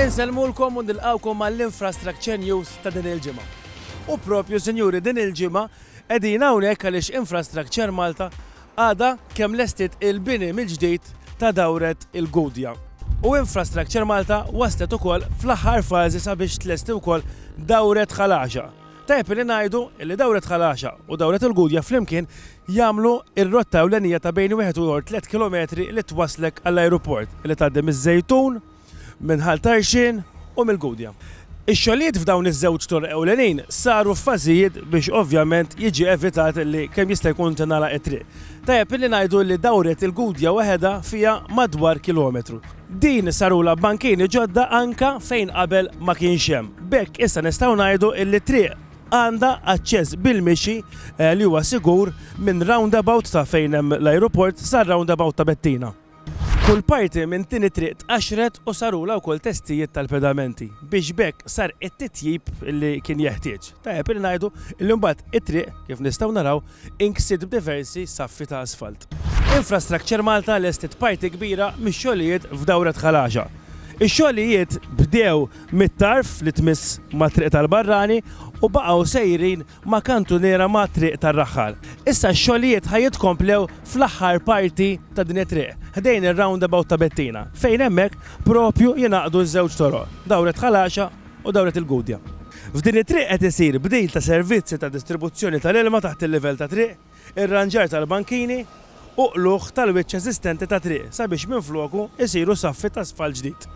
Insellmulkom u nilqgħukom għall-Infrastructure News ta' din il-ġimgħa. U proprju, sinjuri, din il-ġimgħa qegħdin hawnhekk għaliex Infrastructure Malta għadha kemm lestiet il-bini mill-ġdid ta' dawret il-Gudja. U Infrastructure Malta waslet ukoll fl-aħħar fażi sabiex tlesti wkoll dawret Ħal Għaxaq. Tajjeb li ngħidu li dawret Ħal Għaxaq u dawret il-Gudja flimkien jagħmlu r-rotta ewlenija ta' bejn wieħed u tliet kilometri li twasslek għall-ajruport, li tgħaddi miż-Żejtun, minn Ħal Tarxien u mill-Gudja. Ix-xogħlijiet f'dawn iż-żewġ toroq ewlenin saru f'fażijiet biex ovvjament jiġi evitat li kemm jista' jkun tingħalaq it-triq. Tajjeb illi ngħidu li dawret il-Gudja waħedha fiha madwar kilometru. Din sarulha bankini ġodda anke fejn qabel ma kienx hemm. B'hekk issa nistgħu ngħidu li t-triq għandha aċċess bil-mixi li huwa sigur minn roundabout ta' fejn hemm l-ajruport sar-roundabout ta' Bettina. Kull parti minn din it-triq tqaxxret u sarulha wkoll testijiet tal-pedamenti biex b'hekk sar it-titjib li kien jeħtieġ. Tajjeb li ngħidu li mbagħad it-triq, kif nistgħu naraw, inksiet b'diversi saffi ta' asfalt. Infrastructure Malta lestiet parti kbira mix-xogħlijiet f'dawra Tħalaxa. Ix-xogħlijiet bdew mit-tarf li tmiss mat-Triq tal-Barrani u baqgħu sejrin ma' kantuniera ma' Triq tar-Raħħal. Issa x-xogħlijiet ħa jitkomplew fl-aħħar parti ta' din it-triq, ħdejn ir-roundabout ta' Bettina, fejn hemmhekk proprju jingħaqdu ż-żewġ toroq, Dawret Ħal Għaxaq u Dawret il-Gudja. F'din it-triq qed isir bdil ta' servizzi ta' distribuzzjoni tal-ilma taħt il-livell tat-triq. irranġar tal-bankini u qlugħ tal-wiċċ eżistenti ta' triq sabiex minfloku jsiru saffi ta' sfalt ġdid.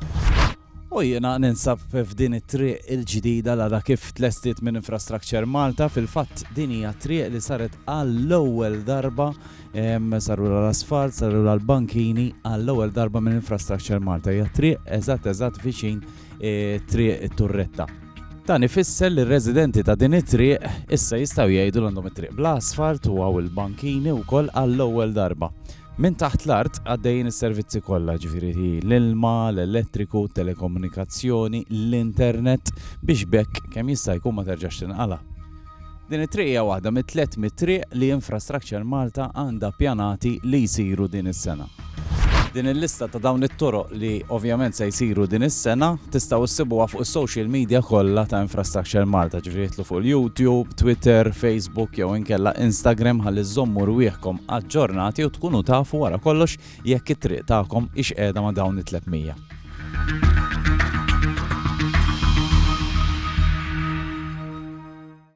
U jiena ninsab f'din it-triq il-ġdida l-għada kif tlestiet minn Infrastructure Malta, fil-fatt din hija triq li saret għall-ewwel darba, sarulha l-asfalt, sarulha l-bankini għall-ewwel darba minn Infrastructure Malta. Hija triq eżatt eżatt viċin triq it-Turretta. Dan ifisser li r-residenti ta' din it-triq issa jistgħu jgħidu l għandhom it-triq bla asfalt u hawn il-bankini wkoll għall-ewwel darba. Minn taħt l-art għaddejjin is-servizzi kollha, ġifieri l-ilma, l-elettriku, telekomunikazzjoni, l-internet biex b'hekk kemm jista' jkun ma terġax tinqala'. Din it-triq hija waħda mit-300 triq li Infrastructure Malta għandha pjanati li jsiru din is-sena. Din il-lista ta' dawn it-toroq li ovvjament se jsiru din is-sena tistgħu ssibuha fuq is-social media kollha ta' Infrastructure Malta, ġifieri idħlu fuq il-YouTube, Twitter, Facebook jew inkella Instagram ħalli żżommu rwieħkom aġġornati u tkunu tafu wara kollox jekk it-triq tagħkom hix qiegħda ma' dawn it-300.